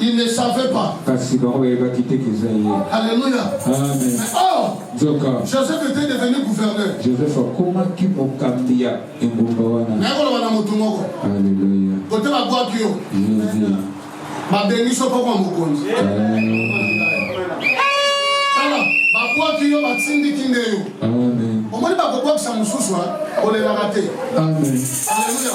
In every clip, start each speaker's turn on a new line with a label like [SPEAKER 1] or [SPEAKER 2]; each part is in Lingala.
[SPEAKER 1] Il ne savait pas. Kasi bango bayebaki te que eza ye. Alléluia. Amen.
[SPEAKER 2] Or, Nzoka.
[SPEAKER 1] Joseph était devenu gouverneur. Joseph akomaki mokambi ya engumba wana. Naye
[SPEAKER 2] koloba na motu moko. Alléluia. Kote babwaki
[SPEAKER 1] yo. Jésus. Babengi so pokwa mokonzi. Tala,
[SPEAKER 2] babwaki yo batindiki nde yo. Amen. Omoni bakobwakisa mosusu, olelaka te. Amen. Alléluia.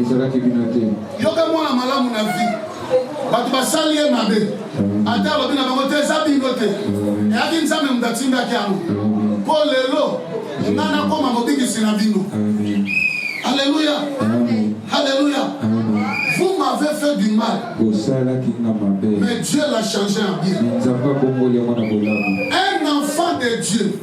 [SPEAKER 1] ezalaki bino te yoka mwana malamu na vie bato basali ye mabe mm. ata alobi na bango te eza bino te mm. eyaki nzambe moto atindaki yango mm. mpo lelo nga nakoma mobikisi na bino alleluya alleluya vous m'avez fait du mal bosalaki nga mabe mais dieu l'a changé en bien nzambe abongoli yango na bolamu un enfant de dieu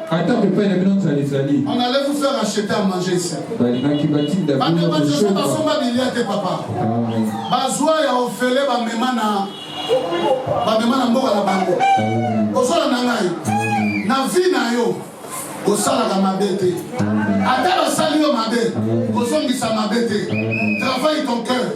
[SPEAKER 1] atako epai na bino nzala ezali on allait vous faire acheter à manger ici balingaki batinda bino kosoba basomba bilia te papa bazwa ya ofele bamema na bamema na mboka na bango ozala na ngai na vi na yo osalaka mabe te ata basali yo mabe kozongisa mabe te travaille ton cœur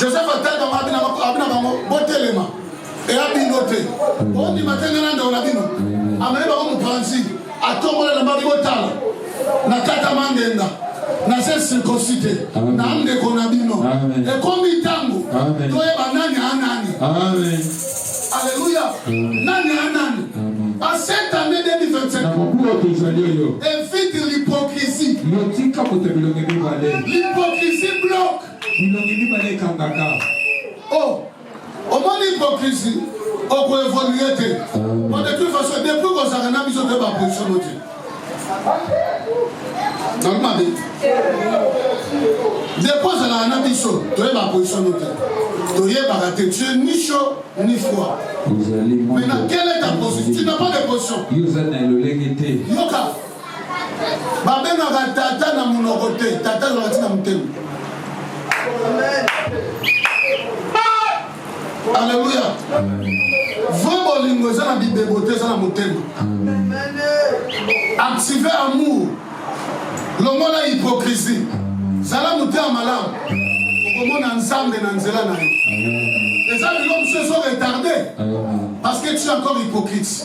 [SPEAKER 1] joseph atali bango abina abina bango botelema eya bino te bondima te ngai na ndeko na bino amemi bango mopanzi atombola na babi botala na kata mangenga na se circoncis te na ndeko na bino ekomi ntango toyeba nani anani aleluya nani anani asetande 2025 evite l'hypocrisie l'hypocrisie bloque bilongi mibale ekangaka o oh, omoni hypocrisie okoevolue te po de toute façon depuis kozalaka na biso te baposition no te nalobi mabe depuis ozalaka na biso toyeba position no te toyebaka te tu es ni chaud ni froid mais na quelle est ta position tu n'as pas de position yoka babengaka tata na monoko te tata azalaka ntina motema aleluya vrai bolingo eza na bibebo te eza na motema active amour longola hypocrisie zala motema malamu okomona nzambe na nzela na yo eza biloko mosusu ezoretarde parce que tu encore hypocrite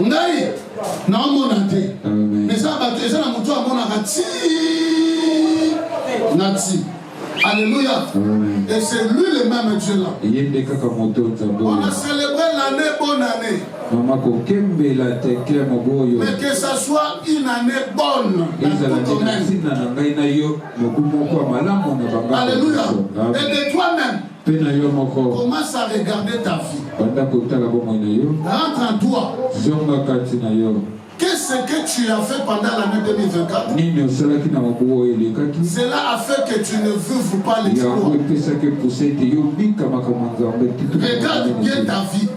[SPEAKER 1] ngai naomona te eza bato eza na moto amonaka ti na ti Alléluia. Et c'est lui le même Dieu là. On a célébré l'année, bonne année. Maman kokembela te clemo boyo. Mais que ça soit une année bonne. Ezala ntina na ngai na yo mobu moko malamu na banga. Alléluia. Et de toi-même. Mpe na yo moko. Commence à regarder ta vie. Banda kotala bomoi na yo. Rentre en toi. Zonga kati na yo. Qu'est-ce que tu as fait pendant l'année 2024 Nini osalaki na mobu oyo elekaki? Cela a fait que tu ne vives pas les Yango epesaki mposa ete yo obika makambo ya Nzambe. Regarde bien ta vie.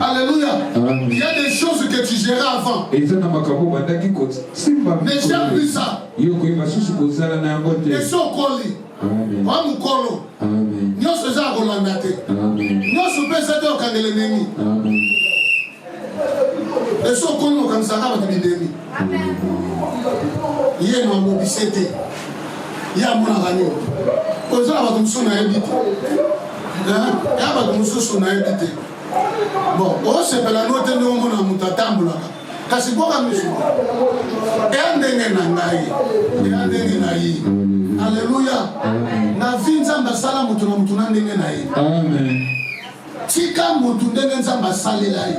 [SPEAKER 1] Alléluia. Il y a des choses que tu gérais avant. Mais j'ai plus ça. Et son colis. wa mokolo nyonso eza ya kolanda te nyonso mpe eza te okangele nemi eso okomi okanisaka bato bidemi ye na mobise te ye amonaka yo ozala bato mosusu nayebi te ya bato mosusu nayebi te bon osepela no te nde omona moto atambolaka kasi boka misu eya ndenge na ngai eya ndenge na ye aleluya na vi nzambe asala moto na moto na ndenge na ye tika moto ndenge nzambe asalela ye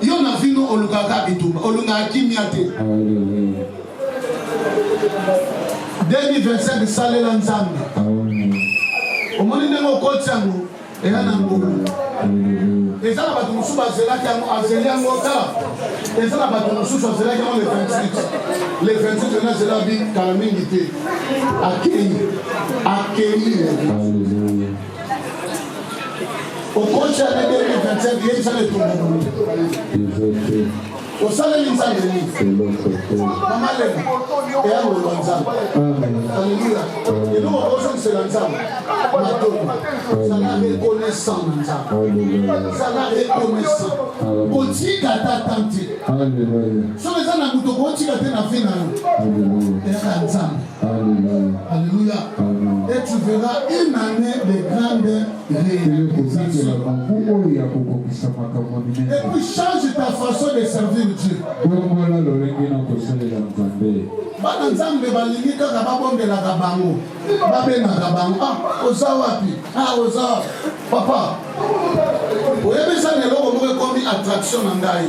[SPEAKER 1] Yo na vino olukaka bitumba, olungaka kimia te. 2025 salela Nzambe. Omoni ndenge okoti yango eya na ngulu. Eza na bato mosusu bazelaki yango, azeli yango tala. Eza na bato mosusu azelaki yango le 28. Le 28 ena azela bi kala mingi te. Akei. Akei. okoci ane 2025 yebisa na etumbu osaleli nzambe nini mama lema eya koloba nzambe aleluya eloko okozongisela nzambe matomo zala reconnaissant na nzambe zala reconnaissant kotika ata tante soki eza na moto kotika te na vi na yo eyaka nzambe Alléluia. Et tu verras une année de grande réalisation. Et puis change ta façon de servir Dieu. bana nzambe balingi kaka babondelaka bango babengaka bango ah oza wapi ah oza papa oyebisa na eloko moko ekomi attraction na ngai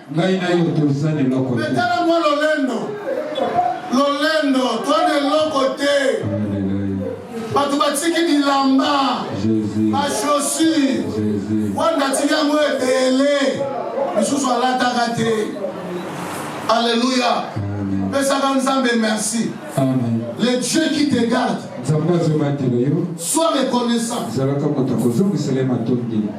[SPEAKER 1] Ngai na yo toza na eloko te. Tala mwa lolendo, lolendo, toa na eloko te. Bato batiki bilamba, ba chaussure, wanda atiki yango ebele, misusu alataka te. Alléluia. Pesaka Nzambe merci. Amen. Le Dieu qui te garde. Nzambe azobatela yo. Sois reconnaissant. Zalaka moto akozongisela ye matondi.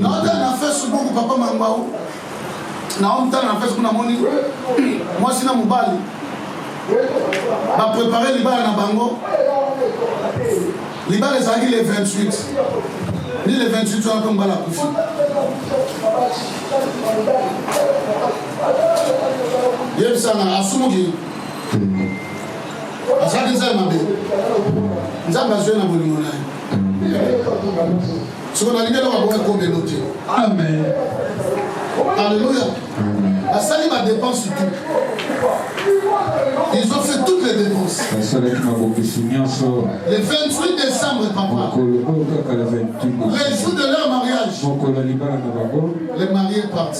[SPEAKER 1] naotala na facebook papa mangau naomtala na facebook namoni mwasi na mobali baprepare libala na bango libala ezalaki le 28 ni le 28 wana mpe mobali akufi yebisanga asumuki azalaki nzambe mabe nzambe azwi na bolingo na ye soko nalingi eloko yango ekoma elo te amen alleluia basali badepense tout ils ont fait toutes les dépenses basalaki mabongisi nyonso le 28 décembre papa mokolo oyo kaka le 28 le jour de leur mariage mokolo ya libala na bango le marié parti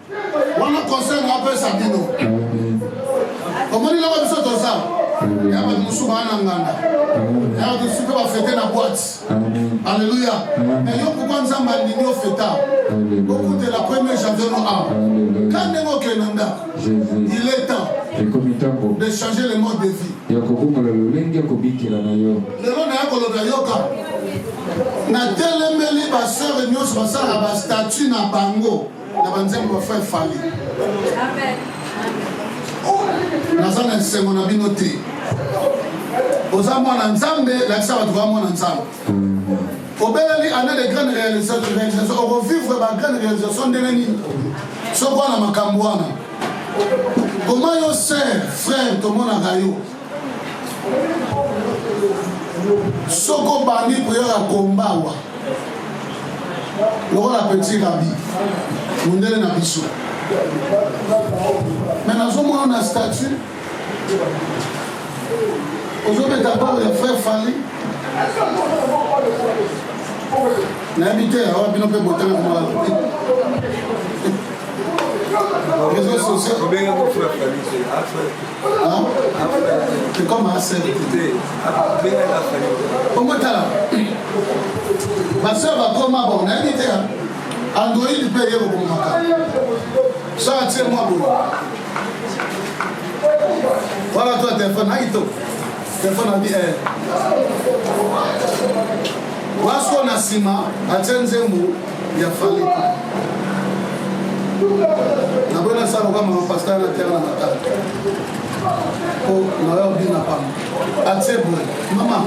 [SPEAKER 1] wana conseil na apesa bino omoni loko biso toza ya bato mosusu baa na nganda ya bato mosusu mpe bafete na boite alleluya me yo pourkui nzambe alingi ofeta okutela premier janvier no a ka ndenge okende na ndako il est temps ekomi ntango de changer le mode de vie ya kobongola lolenge ya kobikela na yo lelo naya koloba yoka natelemeli basere nyonso basalaka bastatut na bango na banzembo ya frère fali naza na esengo na bino te oza mwana nzambe lakisa bato baa mwana nzambe obeleli année de grande réalisation okovivre ba grande réalisation ndenge nini soki wana makambo wana koma yo ser frère tomonaka yo soki obandi koyaka kombawa lokola petit rabi mondele na biso me nazomona na statut ozobeta balo ya frère fali nayebi te awa bino mpe botanga komala réseau social omotala baseur bakoma bo nayebi te android mpe eye kobomaka so atie mwa boye wana to telefone na kitoko telefone abi eh. waso na nsima atie nzembo ya fale naboyi nasala loka mama pasteur na tiaka na matala po nayo bina pamba atie boye mama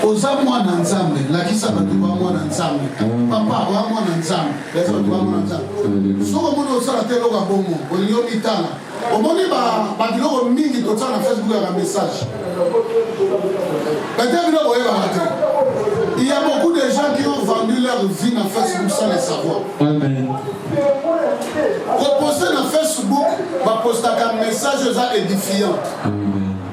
[SPEAKER 1] oza mwana nzambe lakisa bato ba mwana nzambe papa oya mwana nzambe lakisa bato ba mwana nzambe soki omoni osala te eloka bongo olingi omitala Omoni ba ba biloko mingi totia na Facebook ya ba message. Bete biloko oyebaka te. Il y a beaucoup de gens qui ont vendu leur vie na Facebook sans le savoir. Amen. Koposte na Facebook bapostaka message eza édifiant. Amen.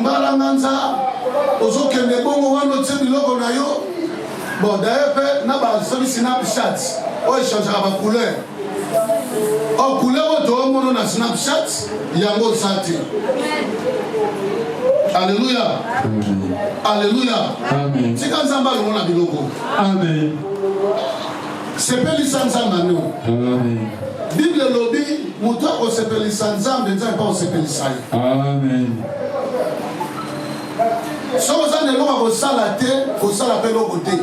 [SPEAKER 1] mbalanganza ozokende bongo wana otie biloko na yo bon daye mpe na basobi snapchat oyo echangaka bacouleur o oh, couleur oyo toomono na snapchat yango oza te aleluya aleluya
[SPEAKER 2] tika nzambe alongo na
[SPEAKER 1] biloko sepelisa nzambe ano
[SPEAKER 2] bible elobi
[SPEAKER 1] moto akosepelisa nzambe nzambe mpe akosepelisa ye
[SPEAKER 2] Amen.
[SPEAKER 1] soki oza na eloko ya kosala te kosala mpe eloko te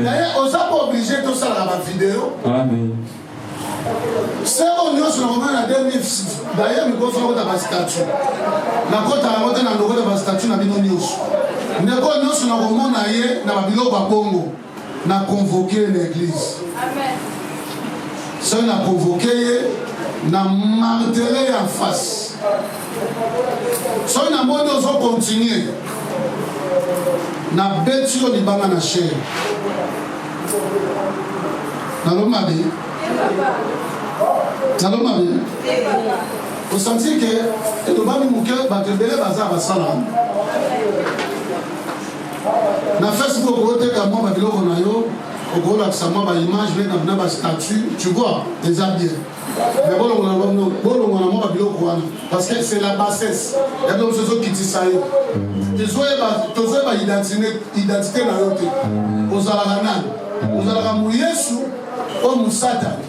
[SPEAKER 1] naye
[SPEAKER 2] oza mpe
[SPEAKER 1] oblige tosalaka bavideo seko nyonso nakomona na 2000 daye mikoso nakota bastatu nakota yango te na ndokota bastatu na bino nyonso ndeko nyonso nakomona ye na babiloko ya bongo na convoke ye na eglise soki na convoke ye na martele ya face soki namoni ozo continue nabeti yo libanga na sher nalo mabe nalo mabe osanti ke elobami moke bato ebele baza basala Na Facebook okoteka mwa ba biloko na yo, okolakisa mwa ba image mpe na ba statut, tu vois, eza bien. Mais bolongona bango, bolongona mwa ba biloko wana parce que c'est la bassesse. Ya bino mosusu ezokitisa yo. Tozoyeba tozoyeba identité identité na yo te. Ozalaka nani? Ozalaka mu Yesu o mu Satana?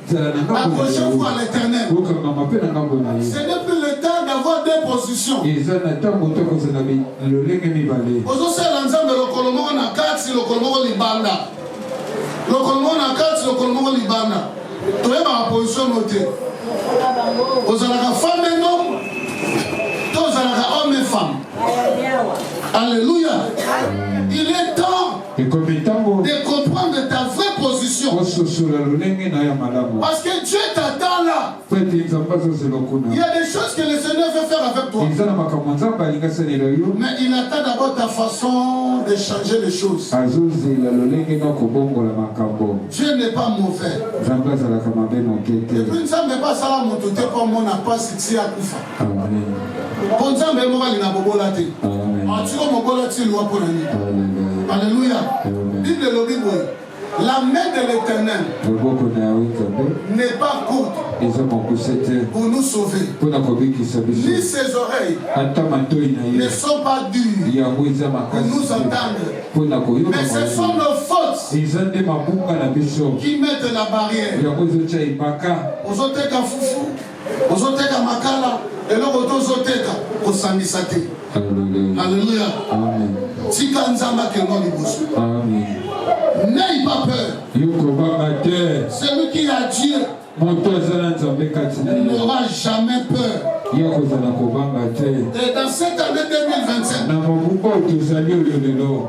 [SPEAKER 1] La prochaine fois, l'éternel. Ce n'est plus le temps d'avoir deux positions. ozosala nzambe lokolo moko na kati lokolo moko libanda lokolo moko na kati lokolo moko libanda toyebaka position no te ozalaka femme et homme to ozalaka homme et femme alléluia Ekomi tango. De comprendre ta vraie position. Ososola lolenge na ya malamu. Parce que Dieu t'a tala. Feti Nzambe azozela okuna. Il y a des choses que le Seigneur veut faire avec toi. Eza na makambo Nzambe alingi asalela yo. Mais il attend d'abord ta façon de changer les choses. Azozela lolenge na kobongola makambo. Dieu n'est pas mauvais. Nzambe azalaka mabe moke te. Et puis Nzambe pas sala moto te po mona pasi ti akufa. mpo nzambe ye moko alinga kobola te atiko mobola ti lwa mpo na nini alleluya bible elobi boye la main de l'éternel loboko na yawe nzambe n'est pas courte eza mokuse te pour nous sauver mpo na kobikisa biso ni ses oreilles ata matoi na ye ne sont pas dures yango eza makasi nous entendre mpo na koyoka mais ce sont nos fautes eza nde mabunga na biso qui mettent la barrière yango ezotya ebaka ozoteka fufu ozoteka makala eloko to ozoteka kosangisa te alleluya tika nzambe akendwa liboso n'aie pas peur yokobanga te celui qui a dieu moto aza na nzambe kati na n'aura jamais peur ya kozala kobanga te et dans cette année 2025 na mobu oyo tozali oyo lelo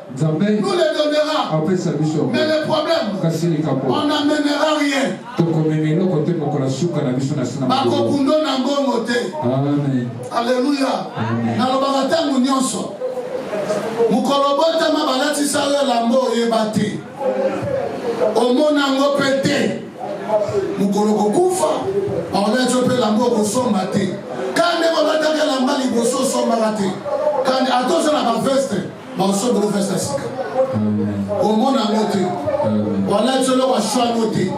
[SPEAKER 1] Nzambe nous les donnera. Apesa biso. Mais le problème. Kasi likambo. On n'amènera rien. Tokomema eloko te mokolo suka na biso na sina. Bakokundo na ngongo te. Amen. Alléluia. Nalobaka ntango nyonso. Mokolo botama balatisa yo elambo oyeba te. Omona yango mpe te. Mokolo kokufa bakolati yo mpe elambo okosomba te. Kande kolataka elamba liboso osombaka te. Kande atozala baveste. baoso bino festa sika omona yango te balati yo eloko ashwa yango te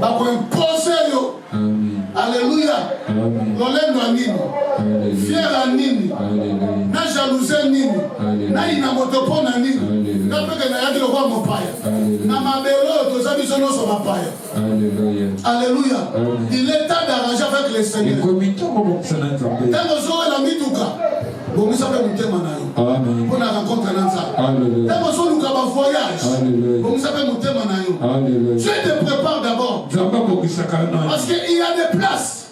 [SPEAKER 1] bakoimpose yo aleluya lolendo ya nini fiere ya nini na jalouse nini nayina moto mpo na nini nga mpeke nayaki lokola mopaya na mabele oyo toza biso nyonso bapaya Alléluia. Alléluia. Il est temps d'arranger avec le Seigneur. Tango zoe la mituka. Bomisa pe mutema na yo. Amen. Pona rencontre na Nzambe. Alléluia. Tango zo luka ba voyage. Alléluia. Bomisa pe mutema na yo. Alléluia. Dieu te prépare d'abord. Nzambe akokisaka na. Parce que il y a des places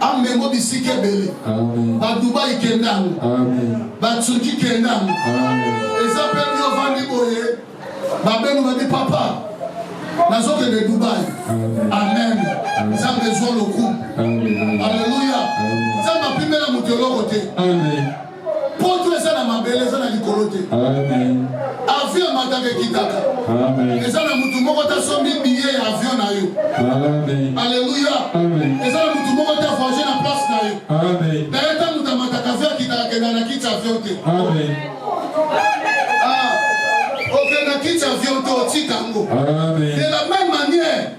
[SPEAKER 1] Amengo bisika ebele. Ba Dubai kenda yango. Ba Turquie kenda yango. Eza mpe yo vandi boye babengo babi papa nazokende Dubai. Amen. Nzambe ezwa lokumu. Aleluya. Nzambe apimela moto eloko te. Amen. poto eza na mabele eza na likolo te avion emataka ekitaka eza na motu moko tasombi biye ya avion na yo aleluya eza na motu moko ta voyage na place na yo daye ta moto amataka avion akitaka kenda na kiti avion te okenda ah, kiti avion te otika yango de la même manière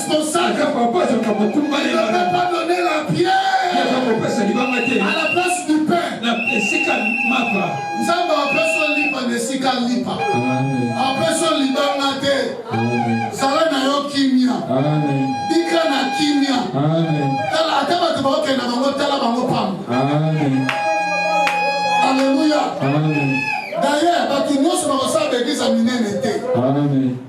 [SPEAKER 1] responsable. Ata papa azalaka mokumba Il ne peut pas donner la pierre. Aza kopesa libanga te. À la place du pain. Na esika mapa. Nzambe apesa yo lipa na esika lipa. Apesa yo libanga te. Zala na yo kimia. Bika na kimia. Tala ata bato bakokenda bango tala bango pamba. Alléluia. D'ailleurs, bato nyonso bakosala baeglize ya minene te.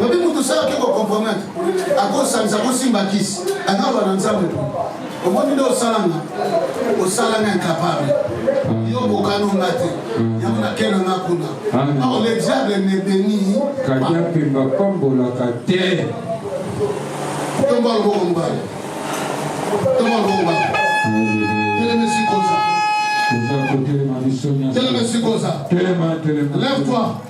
[SPEAKER 1] Obi mutu sala ke ko compromettre, akosalisa kosimba kisi, analoba na Nzambe po. Omoni nde osala nga, osala nga incapable. Yo bokano nga te, yango nakenda nga kuna. Or le diable ne bénit. Kadia Pemba
[SPEAKER 2] pambolaka te.
[SPEAKER 1] Tomba loboko mobali. Tomba loboko mobali. Telema esika oza. Telema esika oza. Lève-toi.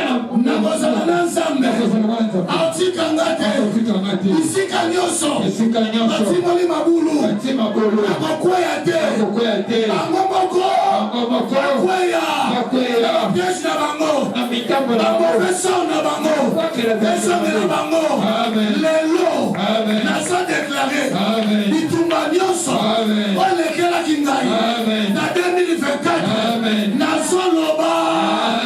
[SPEAKER 1] nakozala na nzambe atika nga te bisika nyonso batimoli mabulu nakokweya te bango moko bakweya na bapiege na bango baprofesor na bango ezongela bango lelo naza deklare bitumba nyonso olekelaki ngai na 2024 nazoloba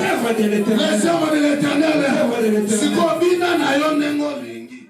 [SPEAKER 1] les œuvres de l'Éternel. Sikoyo bina na yo ndenge olingi.